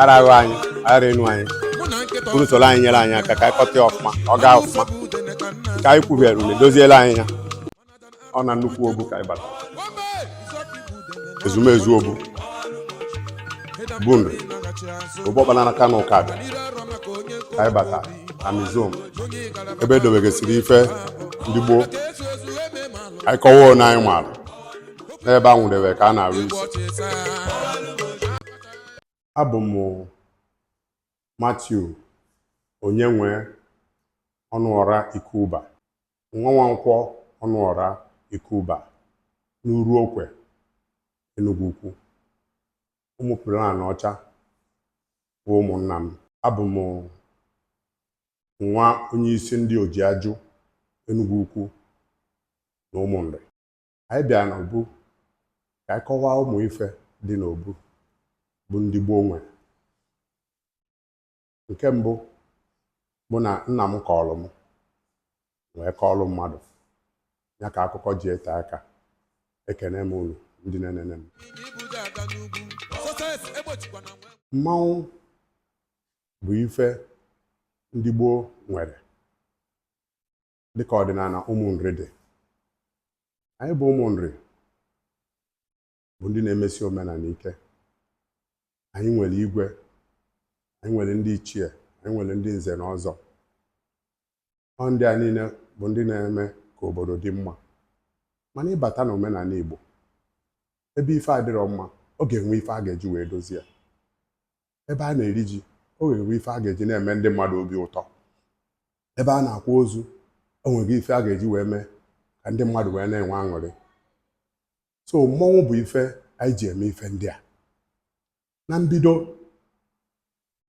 ara ahụ anyị ara enu anyị bụrụ soro anyị nyere anyị aka ka anyị kọta ya ọfụma ọ gaa ọfụma ka anyị kwubiara ule doziela anyị ya ọ na nnukwu obu ka anyị bata ezumezu obu bụ obu Ọkpalanakana Ụkabịa ka anyị bata museum ebe edobegasịrị ife ndị gboo anyị kọwa na anyị maara n'ebe a nwụdebe ka a na-arụ isi abụ m Matthew Onyenwe Ọnụọra Ikuba nwa Nwankwọ Ọnụọra Ikuba n'Uru Okwe Enugu Ukwu Ụmụ Ọkpalanọcha bụ ụmụnna m abụ m nwa onye isi ndị Ojiajụ Enugu Ukwu na Ụmụnri anyị bịa n'obu ka anyị kọwaa ụmụ ife dị n'obu bụ ndị gboo nwere nke mbụ bụ na nna m kọọlụ m wee kọọlụ mmadụ ya ka akụkọ ji ete aka ekene m unu ndị na-enene m mmanwụ bụ ife ndị gboo nwere dịka ọdịnana Ụmụnri dị anyị bụ Ụmụnri bụ ndị na-emesi omenana ike anyị nwere igwe anyị nwere ndị ichie anyị nwere ndị nze na ọzọ ọ ndị a niile bụ ndị na-eme ka obodo dị mma mana ị bata na omenana Igbo ebe ife adịrọ mma ọ ga-enwe ife a ga-eji wee dozie ebe a na-eri ji o nwere ife a ga-eji na-eme ndị mmadụ obi ụtọ ebe a na-akwa ozu o nwere ife a ga-eji wee mee ka ndị mmadụ wee na-enwe aṅụrị so mmọnwụ bụ ife anyị ji eme ife ndị a na mbido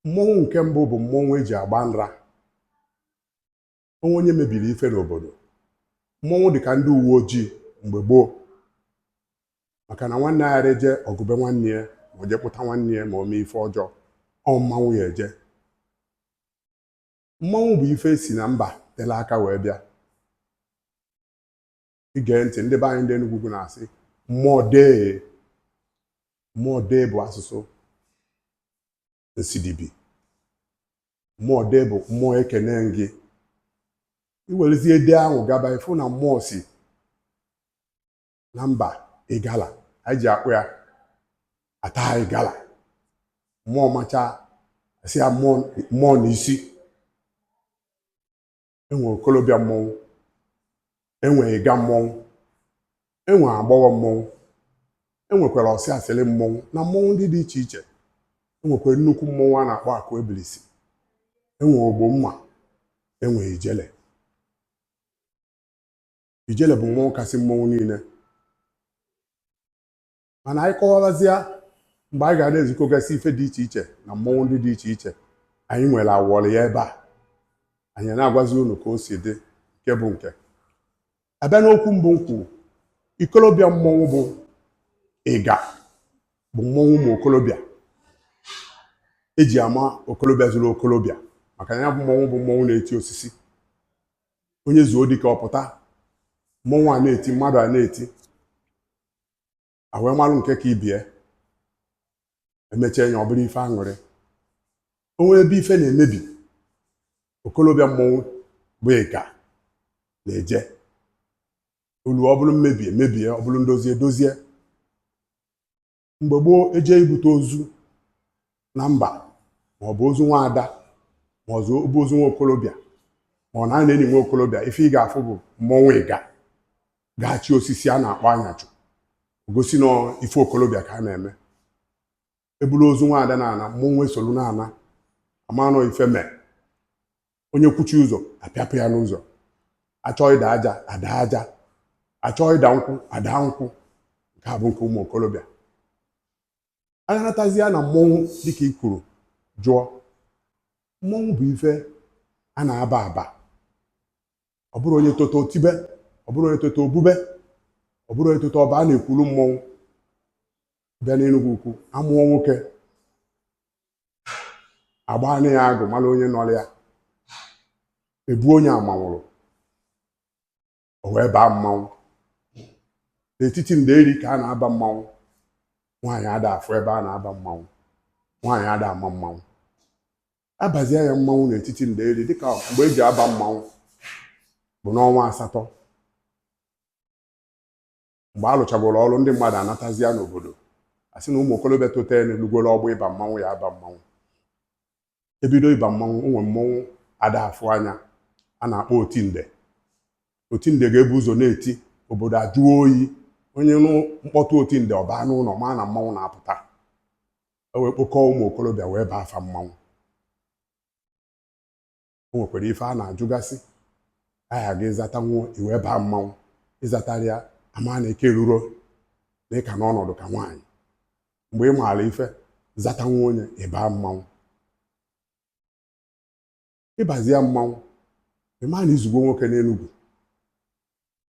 mmọnwụ nke mbụ bụ mmọnwụ e ji agba nra o nwee onye mebiri ife n'obodo mmọnwụ dị ka ndị uwe ojii mgbe gboo maka na nwanne ayarọ eje ọgụ be nwanne ya ma o je kpụta nwanne ya ma o mee ife ọjọọ ọ mmanwụ ya-eje mmanwụ bụ ife si na mba tele aka wee bịa i gee ntị ndị be anyị ndị Enugu na-asị mmụọ dee mmụọ dee bụ asụsụ nsidibi mmụọ dee bụ mmụọ ekene gị i werezie dee ahụ gaba ị fụ na mmụọ si na mba Igala anyị ji akpọ ya Ata Igala mmụọ macha a sị ya mmụọ n'isi enwe okolobịa mmọnwụ enwe iga mmọnwụ enwe agbọghọ mmọnwụ enwekwara ọsị asịlị mmọnwụ na mmọnwụ ndị dị iche iche enwekwara nnukwu mmọnwụ a na-akpọ akụ ebilisi enwe ogbo mma enwe ijele ijele bụ mmọnwụ kasị mmọnwụ niine mana anyị kọwabazịa mgbe anyị ga na-ezikọgasị ife dị iche iche na mmọnwụ ndị dị iche iche anyị nwere awọrị ya ebe a anyị na-agwazi unu ka o si dị nke bụ nke abịa n'okwu mbụ m kwuru okolobịa mmọnwụ bụ iga bụ mmọnwụ ụmụ okolobịa eji ama okolobịa zuru okolobịa maka na ya bụ mmọnwụ bụ mmọnwụ na-eti osisi onye zuo dike ọ pụta mmọnwụ a na-eti mmadụ a na-eti awee malụ nke ka ibie emechie ya ọ bụrụ ife aṅụrị onwe ebe ife na-emebi okolobịa mmọnwụ bụ iga na-eje ọlụ ọ bụlụ mmebi emebie ọ bụlụ ndozi edozie mgbe gboo eje ibute ozu na mba ma ọ bụ ozu nwa ada ma ọ bụ ozu nwa okolobịa ma ọ na a na-eni nwa okolobịa ife ị ga-afụ bụ mmọnwụ iga ga-achị osisi a na-akpọ anyachụ gosi na ife okolobịa ka a na-eme eburu ozu nwa ada na-ana mmọnwụ esolu na-ana amanụ ife mee onye kwụchi ụzọ apịapụ ya n'ụzọ achọọ ịda aja ada aja achọọ ịda nkwụ ada nkwụ nke a bụ nke ụmụ okolobịa a ga-anatazịa na mmọnwụ dịka i kwuru jụọ mmọnwụ bụ ife a na-aba aba ọ bụrọ onye tota o tibe ọ bụrọ onye tota o bube ọ bụrọ onye tota ọ ba a na-ekwulu mmọnwụ bịa n'Enugwu ukwu amụọ nwoke agbaanị ya agụ malụ onye nọlụ ya ebu onye amanwụrụ o wee baa mmanwụ n'etiti ndeeri ka a na-aba mmanwụ nwaanyị ada afụ ebe a na-aba mmanwụ nwaanyị ada ama mmanwụ abazie ya mmanwụ n'etiti ndeeri dịka mgbe eji aba mmanwụ bụ n'ọnwa asatọ mgbe a lụchagoro ọrụ ndị mmadụ anatazia n'obodo a sị na ụmụ okolobịa totalụ lugoro ọgbọ ịba mmanwụ ya aba mmanwụ ebido ịba mmanwụ o nwe mmanwụ ada afụ anya a na-akpọ otinde otinde ga-ebu ụzọ na-eti obodo ajụọ oyi onye nụ mkpọtụ otinde ọ baa n'ụnọ ma na mmanwụ na-apụta e wee kpokọọ ụmụ okolobịa wee baa fa mmanwụ o nwekwara ife a na-ajụgasị aha gị ị zatanwuo i wee baa mmanwụ ị zatarọ ya a maa na ị ka erurọ na ị ka nọ ọnọdụ ka nwaanyị mgbe ị maara ife zatanwuo ọ nya ị baa mmanwụ ị bazia mmanwụ ị ma na i zugwo nwoke n'Enugwu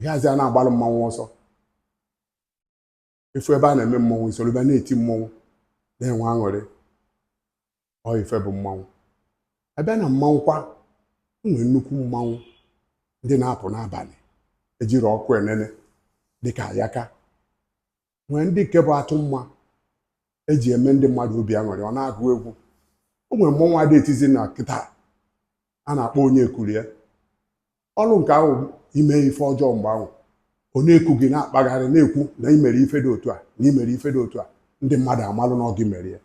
ịhazi a na-agbalụ mmanwụ ọsọ a fụ ebe a na-eme mmọnwụ i soro bịa na-eti mmọnwụ na-enwe aṅụrị ọ ife bụ mmanwụ a bịa na mmanwụ kwa o nwee nnukwu mmanwụ ndị na-apụ n'abanị ejirọ ọkụ enene dịka ayaka nwee ndị nke bụ atụmma eji eme ndị mmadụ obi aṅụrị ọ na-agụ egwu o nwere mmọnwụ ada etizi na kịta a na-akpọ onye kurie ọrụ nke ahụ i mee ife ọjọọ mgbe ahụ ọ na-eku gị na-akpagharị na-ekwu na ị mere ife dị otu a na ị mere ife dị otu a ndị mmadụ amalụ na ọ gị mere ya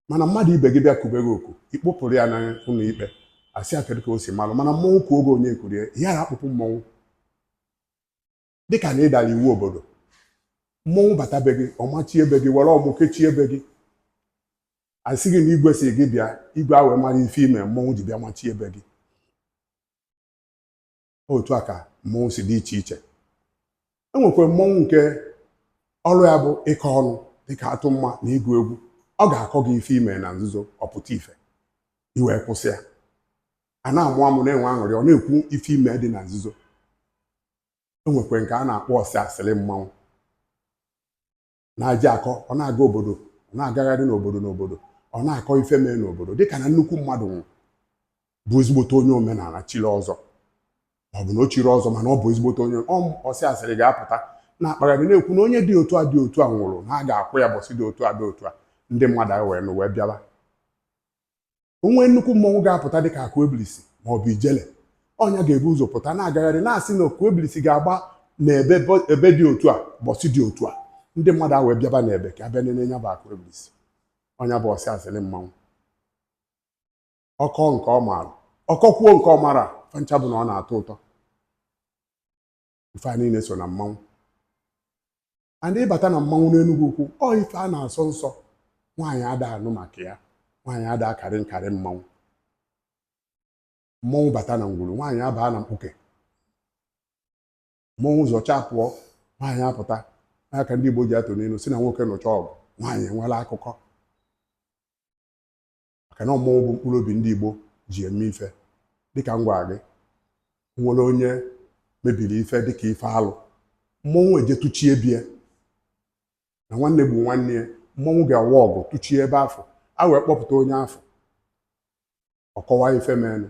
mana mmadụ ibe gị bịa kube gị oku ị kpụpụrụ ya n'ụnọ ikpe a sị ya kedu ka o si malụ mana mmọnwụ kuo gị onye kurie ya ada akpụpụ mmọnwụ dịka na ị dara iwu obodo mmọnwụ bata be gị ọ machie be gị were ọmụ kechie be gị a sị gị na igwe sị gị bịa igwe ewee mara ife i me mmọnwụ ji bịa machie be gị otu a ka mmọnwụ si dị iche iche e nwekwa mmọnwụ nke ọrụ ya bụ ịkọ ọnụ dịka atụmma na ịgụ egwu ọ ga-akọ gị ife i me na nzuzo ọ pụta ife i wee kwụsị ya a na-amụ amụ na-enwe aṅụrị ọ na-ekwu ife i me dị na nzuzo e nwekwa nke a na-akpọ ọsị asịrị mmanwụ na-aji akọ ọ na-aga obodo ọ na-agagharị n'obodo n'obodo ọ na-akọ ife mee n'obodo dịka na nnukwu mmadụ nwụrụ bụ ezigbote onye omenala chiri ọzọ ọ bụ na o chirọ ọzọ mana ọ bụ ezigbote onye ọsị asịrị ga-apụta na-akpagharị na-ekwu na onye dị otu a dị otu a nwụrụ na a ga-akwa ya ụbọsị dị otu a dị otu a ndị mmadụ wee nụ wee bịaba o nwee nnukwu mmọnwụ ga-apụta dị ka Akuebilisi ma ọ bụ Ijele ọ nya ga-ebu ụzọ pụta na-agagharị na-asị na Akuebilisi ga-agba na ebe dị otu a ụbọsị dị otu a ndị mmadụ ewee bịaba na ebe ka a bịa nene nya bụ Akuebilisi ọ nya bụ ọsị asịrị mmanwụ ọ kọọ nke ọ maara ọ kọkwuo nke ọ marọ fa ncha bụ na ọ na-atọ ụtọ ife a niile so na mmanwụ and ị bata na mmanwụ n'Enugwu Ukwu ọ ife a na-asọ nsọ nwaanyị ada anụ maka ya nwaanyị ada akarị nkarị mmanwụ mmọnwụ bata na ngwuru nwaanyị abaa na mkpuke mmọnwụ zọchaa pụọ nwaanyị apụta nya ka ndị Igbo ji atụ n'inu sị na nwoke nụchaa ọgụ nwaanyị enwelụ akụkọ maka na mmọnwụ bụ mkpụrụ obi ndị Igbo ji eme ife dịka m gwara gị nwere onye mebiri ife dịka ife alụ mmọnwụ eje tụchie be ya na nwanne gbu nwanne ya mmọnwụ ga-awa ọgụ tụchie ebe afụ a wee kpọpụta onye afụ ọ kọwaa ife menụ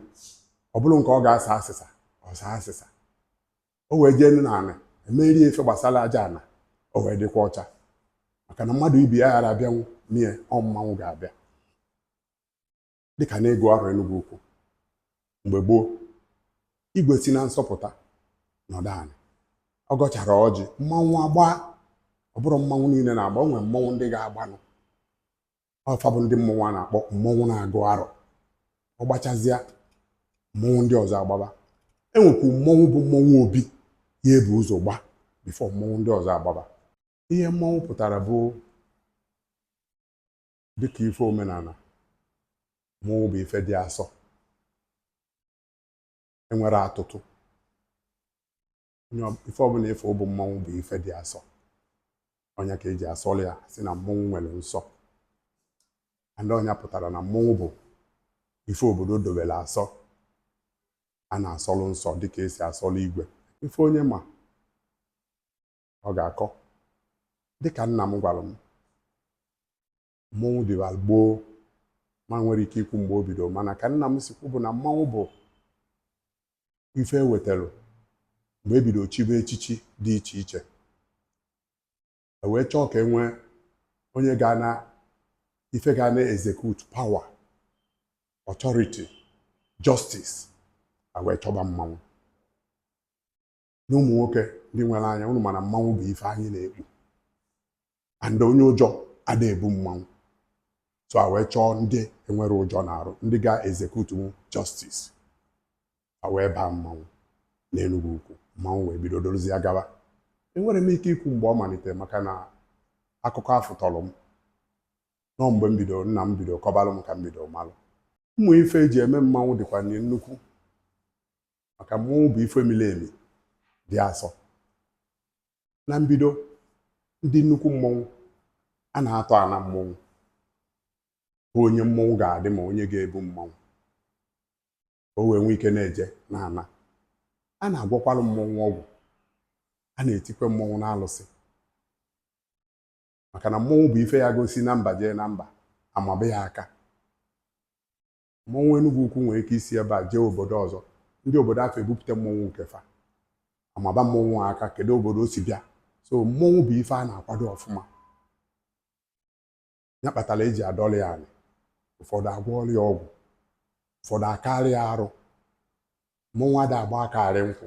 ọ bụrụ nke ọ ga-asa asịsa ọ saa asịsa o wee jee nụ n'anị e merie ife gbasara aja ana o wee dịkwa ọcha maka na mmadụ ibi ya ghara abịanwụ n'ihe ọ mmanwụ ga-abịa dịka n'ịgụ arọ Enugu ukwu mgbe gboo igwe si na nsọ pụta nọdụ anị ọ gọchara ọjị mmanwụ agbaa ọ bụrọ mmanwụ niile na-agba o nwere mmanwụ ndị ga-agbanụ ọ fa bụ ndị mmọnwụ a na-akpọ mmọnwụ na-agụ arọ ọ gbachazịa mmọnwụ ndị ọzọ agbaba e nwekwuru mmọnwụ bụ mmọnwụ obi ya-ebu ụzọ gbaa before mmọnwụ ndị ọzọ agbaba ihe mmọnwụ pụtara bụ dịka ife omenana mmọnwụ bụ ife dị asọ enwerọ atụtụ onye ọ- ife ọbụna ife ọ bụ mmọnwụ bụ ife dị asọ ọ nya ka eji asọlụ ya sị na mmọnwụ nwere nsọ and ọ nya pụtara na mmọnwụ bụ ife obodo dobere asọ a na-asọlụ nsọ dịka esi asọlụ igwe ife onye ma ọ ga-akọ dịka nna m gwara m mmọnwụ dịbalụ gboo m enwerọ ike ikwu mgbe o bido mana ka nna m si kwu bụ na mmanwụ bụ ife e wetalụ mgbe e bido chibe echichi dị iche iche e wee chọọ ka e nwee onye ga na ife ga na execute power authority justice a wee chọba mmanwụ na ụmụ nwoke ndị nwere anya ụnụ ma na mmanwụ bụ ife anyị na-ekpu and onye ụjọ ada ebu mmanwụ so a wee chọọ ndị enwerọ ụjọ n'arụ ndị ga-execute justice a wee baa mmanwụ n'Enugwu ukwu mmanwụ wee bido dorozie gaba enwerọ m ike ikwu mgbe ọ malitere maka na akụkọ afụ tọrọ m nọ mgbe m bidoro nna m bidoro kọbalụ m ka m bidoro malụ ụmụ ife eji eme mmanwụ dịkwa nnukwu maka mmọnwụ bụ ife miri emi dị asọ na mbido ndị nnukwu mmọnwụ a na-atọ ana mmọnwụ bụ onye mmọnwụ ga-adị ma onye ga-ebu mmọnwụ o wee nwee ike na-eje na ana a na-agwakwalụ mmọnwụ ọgwụ a na-etikwe mmọnwụ n'alụsị maka na mmọnwụ bụ ife ya ga-esi na mba jee na mba a maba ya aka mmọnwụ Enugwu ukwu nwere ike isi ebe a jee obodo ọzọ ndị obodo afụ ebupụta mmọnwụ nke fa amaba mmọnwụ aka kedu obodo o si bịa so mmọnwụ bụ ife a na-akwado ọfụma ya kpatara eji adọrọ ya anị ụfọdụ agwọọrọ ya ọgwụ ụfọdụ akarịa arụ mmọnwụ ada agba aka arị nkwụ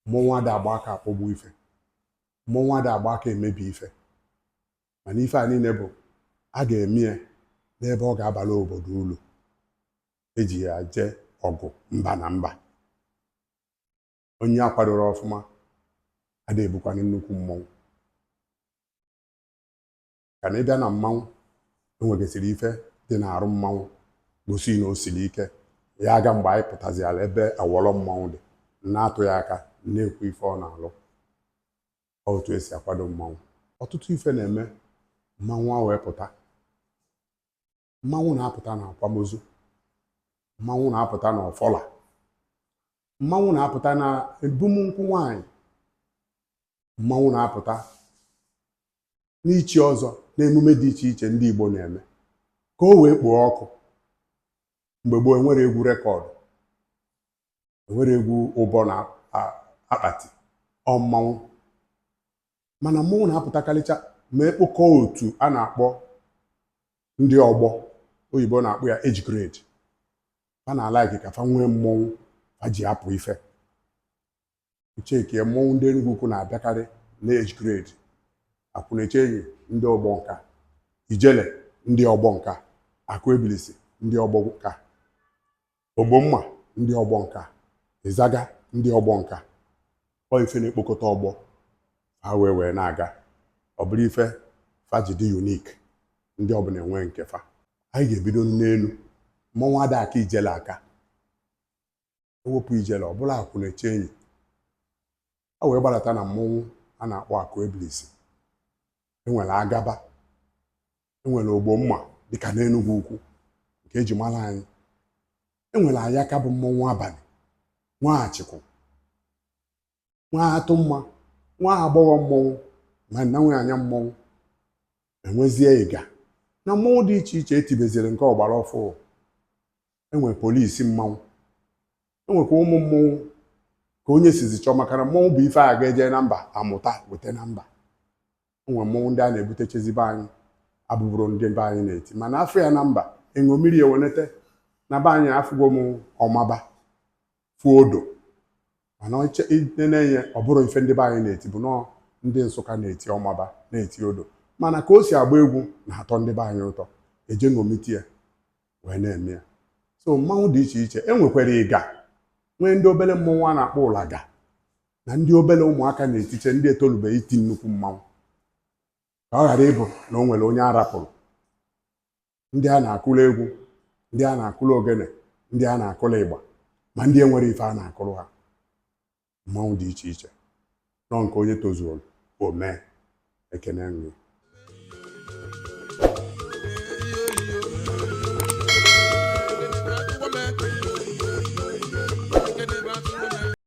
mmọnwụ ada agba aka akpọgbu ife mmọnwụ ada agba aka emebi ife mana ife a niile bụ a ga-eme ya n'ebe ọ ga-abala obodo ulu eji ya jee ọgụ mba na mba onye akwadoro ọfụma ada ebukwanụ nnukwu mmọnwụ ka na ịbịa na mmanwụ enwegasịrị ife dị n'arụ mmanwụ gosi na o siri ike ya aga mgbe anyị pụtaziala ebe awọlọ mmanwụ dị na-atụ ya aka na-ekwu ife ọ na-alụ ọ otu esi akwado mmanwụ ọtụtụ ife na-eme mmanwụ a wee pụta mmanwụ na-apụta na akwamozu mmanwụ na-apụta na ọfala mmanwụ na-apụta na ebum nkwụ nwanyị mmanwụ na-apụta n'ichi ọzọ n'emume dị iche iche ndị Igbo na-eme ka o wee kpoo ọkụ mgbe gboo enwere egwu rekọdụ enwere egwu ụbọ na akpati ọ mmanwụ mana mmọnwụ na-apụtakarịcha ma ekpokọ otu a na-akpọ ndị ọgbọ oyibo na-akpọ ya age grade fa na-alaiki ka fa nwee mmọnwụ fa ji apụ ife i chekie mmọnwụ ndị Enugwu ukwu na-abịakarị n'age grade akwụnechenyi ndị ọgbọ nka ijele ndị ọgbọ nka akụ ebilisi ndị ọgbọ nka okwomma ndị ọgbọ nka izaga ndị ọgbọ nka ọ ife na-ekpokọta ọgbọ fa wee wee na-aga ọ bụrụ ife fa ji dị unique ndị ọbụla enwe nke fa anyị ga-ebido n'enu mmọnwụ ada aka ijele aka ewepụ ijele ọ bụlụ akwụnechenyi a wee gbadata na mmọnwụ a na-akpọ akụ ebilisi enwere agaba enwere okwomma dịka n'enugwu ukwu nke eji mara anyị enwere ayaka bụ mmọnwụ abanị nwa achikwu nwa atụmma nwa agbọghọ mmọnwụ ma na nwe anya mmọnwụ enwezie ịga na mmọnwụ dị iche iche etibeziri nke ọgbara ọfụụ enwe polisi mmanwụ enwekwa ụmụ mmọnwụ ka onye sizi chọọ maka na mmọnwụ bụ ife a ga-eje na mba amụta weta na mba o nwee mmọnwụ ndị a na-ebutechezi be anyị abụburọ ndị be anyị na-eti mana a fụ ya na mba e ṅomiri e wenete na be anyị afụgo m ọmaba fụ odo mana na-enye ọ bụrọ ife ndị be anyị na-eti bụ nọọ ndị nsụka na-eti ọmaba na-eti odo mana ka o si agba egwu na-atọ ndị be anyị ụtọ e jee ṅomite ya wee na-eme ya so mmanwụ dị iche iche e nwekwara ịga nwee ndị obere mmọnwụ a na-akpọ ụlaga na ndị obere ụmụaka na-etiche ndị etolubeghị iti nnukwu mmanwụ ka ọ ghara ịbụ na o nwere onye a rapụrụ ndị a na-akụrụ egwu ndị a na-akụrụ ogene ndị a na-akụrụ ịgba ma ndị enwerọ ife a na-akụrụ ha mmanwụ dị iche iche nọ nke onye tozuru o mee ekene nri